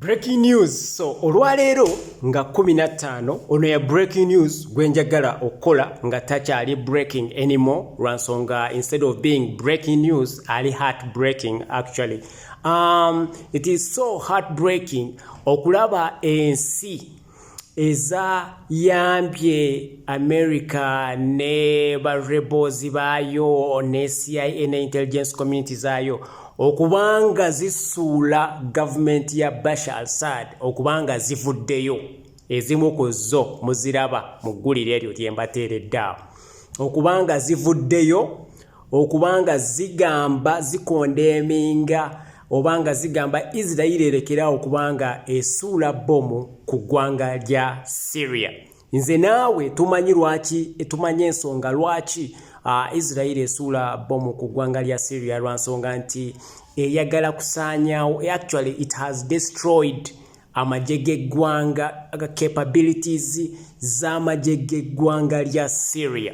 Breaking news so olwaleero nga 15 ono ya breaking news gwenjagala okukola nga takyali breaking anymore lwansonga instead of being breaking news ali heart breaking actually um, it is so heart breaking okulaba ensi eza yambye america ne ba rebels baayo ne cia ne intelligence community zaayo okubanga zisuula gavumenti ya bashar al sad okubanga zivuddeyo ezimu ku zo muziraba mu ggulire eryo lyembateereddaawo okubanga zivuddeyo okuba nga zigamba zikondeeminga oba nga zigamba isirairi erekerawo kubanga esuula bbomu ku ggwanga lya syria nze naawe tumanyi lwaki tumanyi ensonga lwaki ah, isirairi esuula bbomu ku ggwanga lya syria lwa nsonga nti eyagala kusaanyawo actually it has destroyed amagye g'eggwanga capabilities z'amagye g'eggwanga lya syria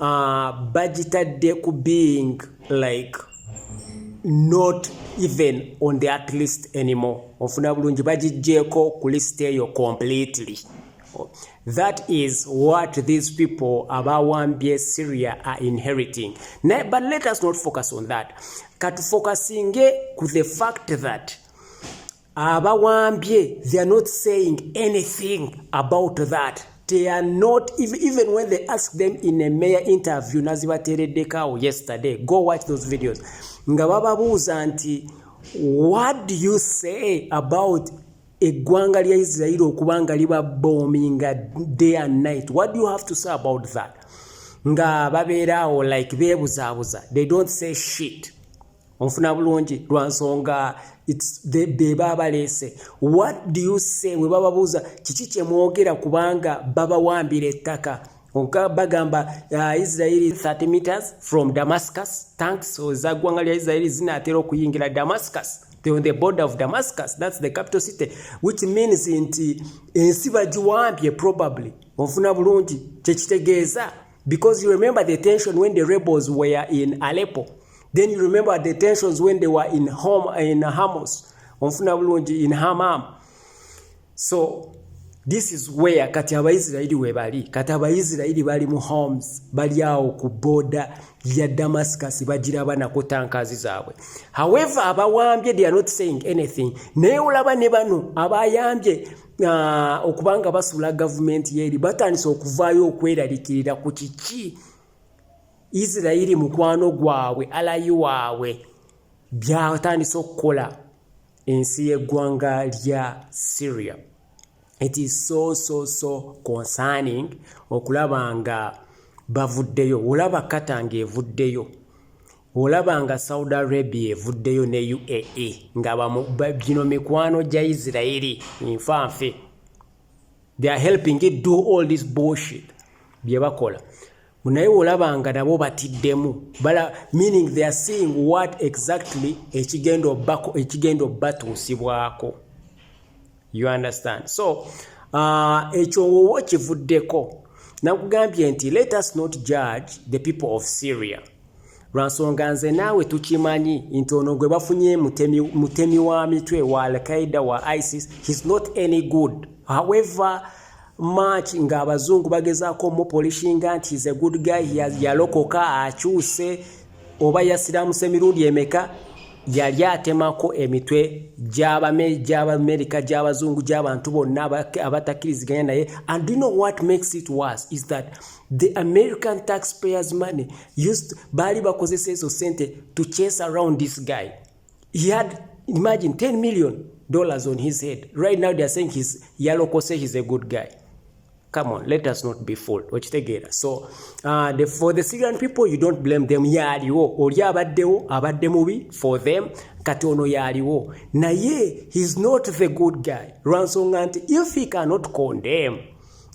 uh, bagitadde ku being like not even on the at least anymore ofuna bulungi bagijjeeko ku list eyo completely that is what these people abawambye syria are inheriting naye but let us not focus on that katufocusinge ku the fact that abawambye they are not saying anything about that they are not even when they ask them in a mayor interview nazibatereddekaawo yesterday go watch those videos nga bababuuza nti what do you say about eggwanga lya isirairi okuba nga liba bominga day and night what do you have to say about that nga babeeraawo like beebuzaabuza they don't say shit onfuna bulungi lwa nsonga be baba baleese what do you say we bababuuza kiki kye mwogera kubanga babawambira ettaka oka bagamba uh, israeli 30 meters from damascus tanks eza ggwanga lya israeli zinaatera okuyingira damascus the, on the border of damascus that's the capital city which means nti ensi bagiwambye probably onfuna bulungi kyekitegeeza Because you remember the tension when the rebels were in Aleppo. Then you remember the tensions when they were in home in Hamas. Onfuna bulungi in Hamam. So this is where kati abaisirairi webali kati abaisirairi bali mu homes bali awo ku boda ya damascus bagira abana ku tankazi zaabwe however abawambye they are not saying anything naye olaba ne bano abayambye uh, okubanga basula gavumenti yeeri batandise okuvaayo okweralikirira ku kiki isirairi mukwano gwabwe alayi waabwe byatandise okukola ensi y'eggwanga lya syria it is so so so concerning okulaba nga bavuddeyo olaba katanga evuddeyo olaba nga saudi arabia evuddeyo ne uae nga gino mikwano gya isirairi nfanfe they are helping it do all this bullshit bye bakola naye olaba nga nabo batiddemu bala meaning they are seeing what exactly ekigenda obako ekigenda obatuusibwako you understand so uh, ekyo wowo kivuddeko nakugambye nti let us not judge the people of syria lwansonga nze naawe tukimanyi nti ono gwe bafunye mutemi, mutemi wa mitwe wa alqaida wa isis he's not any good however much nga abazungu bagezaako omupolishinga nti he's a good guy yalokoka akyuse oba yasiramuse emirundi emeka yali atemako emitwe gy'abamerika gy'abazungu gy'abantu bonna abatakkiriziganya naye and you know what makes it worse is that the american taxpayers money used baali bakozesa ezo sente to chase around this guy he had imagine 10 million dollars on his head right now theyare saying his yalokose his a good guy come on let us not be fooled okitegeera so uh, the, for the syrian people you don't blame them yaaliwo oli abaddewo abadde mubi for them kati ono yaaliwo naye heis not the good guy lwansonga nti if he cannot condemn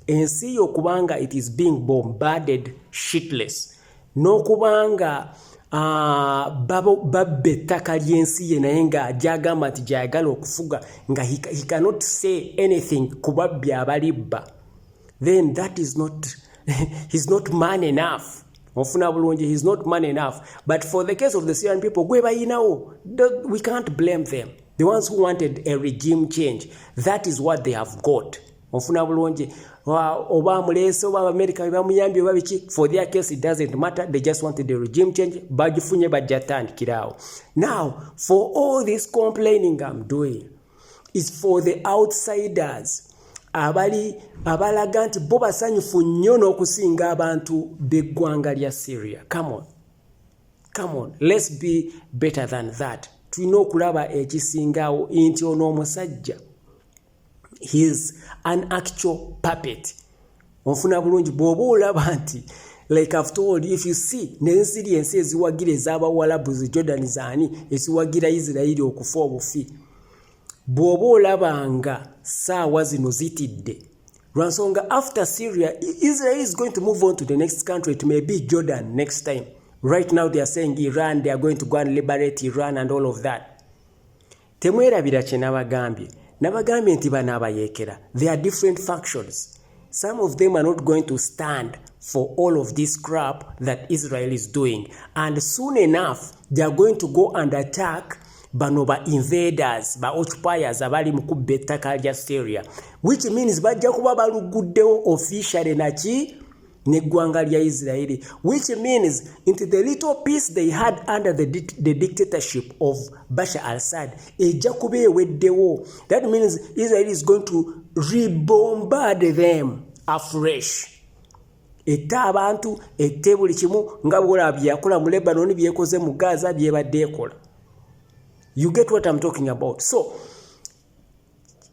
ensi yo kubanga it is being bombarded shitless n'okubanga babba ettaka ly'ensi ye naye nga gyagamba nti gyayagala okufuga nga he cannot say anything ku babbi abalibba then that is not he's not man enough ofuna bulungi he's not man enough but for the case of the syrian people gwe bayinawo we can't blame them the ones who wanted a regime change that is what they have got ofuna bulungi oba amuleese oba abamerica bebamuyambye oba biki for their case it doesn't matter they just wanted the regime change bagifunye bajja tandikiraawo now for all this complaining am doing is for the outsiders abali abalaga nti bo basanyufu nnyo n'okusinga abantu b'eggwanga lya syria come on come on let's be better than that tulina okulaba ekisingaawo nti ono omusajja he is an actual puppet onfuna bulungi bwoba olaba nti like after all if you see nensiri ensi eziwagira ezabawalabu ze jordan zani eziwagira isirairi okufa obufi bwoba olaba nga saawa zino zitidde lwansonga after syria israel is going to move on to the next country it may be jordan next time right now they are saying iran they are going to go and liberate iran and all of that Temwerabira kye nabagambye. Nabagambye nti bano abayeekera, they are different factions. Some of them are not going to stand for all of this crap that Israel is doing. And soon enough, they are going to go and attack bano ba invaders ba occupiers abali mu kubba ettaka lya Syria which means bajja kuba baluguddewo officially naki n'eggwanga lya isiraeri which means nti the little peace they had under the, di the dictatorship of basha al sad ejja kuba eweddewo that means israel is going to rebombard them afresh ette abantu ette buli kimu nga bwola byeyakola mu lebanon byekoze mu gaza byebadde ekola you get what im talking about so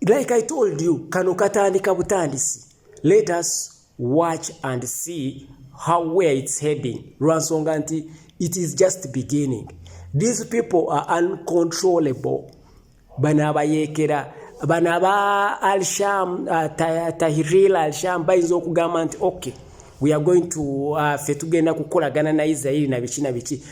like i told you kano katandika butandisi let us watch and see how where it's heading lwansonga nti it is just beginning these people are uncontrollable bano abayekera bano aba alsham uh, tahiril alsham bayinza okugamba nti okay we are going to uh, fe tugenda kukolagana na israeli na biki na biki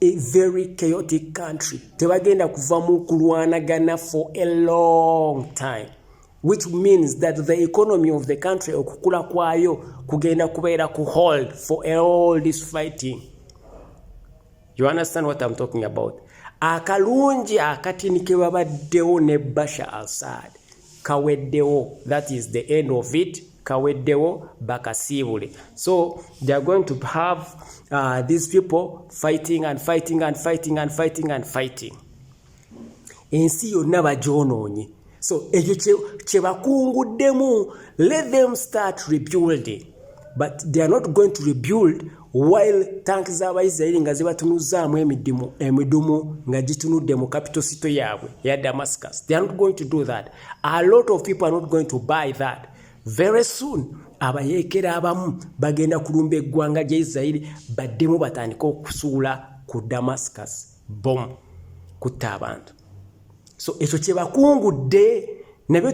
a very chaotic country tebagenda kuvamu kulwanagana for a long time which means that the economy of the country okukula kwayo kugenda kubeera ku hold for all this fighting you understand what I'm talking about akalungi akatini kebabaddewo ne basha alsad kaweddewo that is the end of it kaweddewo bakasiibule so they are going to have uh, these people fighting and fighting and fighting and fighting and fighting ensi yonna bagyonoonye so ekyo kyebakunguddemu let them start rebuilding but they are not going to rebuild while tank z'abaisirairi nga zibatunuzaamu emidimu emidumu nga gitunudde mu capital sito yaabwe eya damascus they are not going to do that a lot of people are not going to buy that very soon abayeekera abamu bagenda kulumba eggwanga gya isirairi baddemu batandike okusuula ku damascus bomu kutta abantu so ekyo kyebakungudde nabyo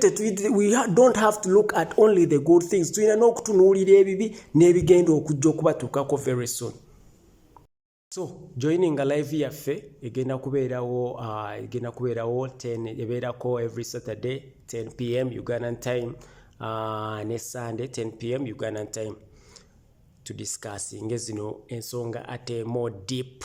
don't have to look at only the good things tulina n'okutunuulira ebibi n'ebigenda okujja okubatuukako very soon so joininga live yaffe egenda kubeerawo uh, egenda kubeerawo 10 ebeerako every saturday 10 pm ugandan time uh, ne sunday 10 pm ugandan time to discuss nge zino ensonga ate more deep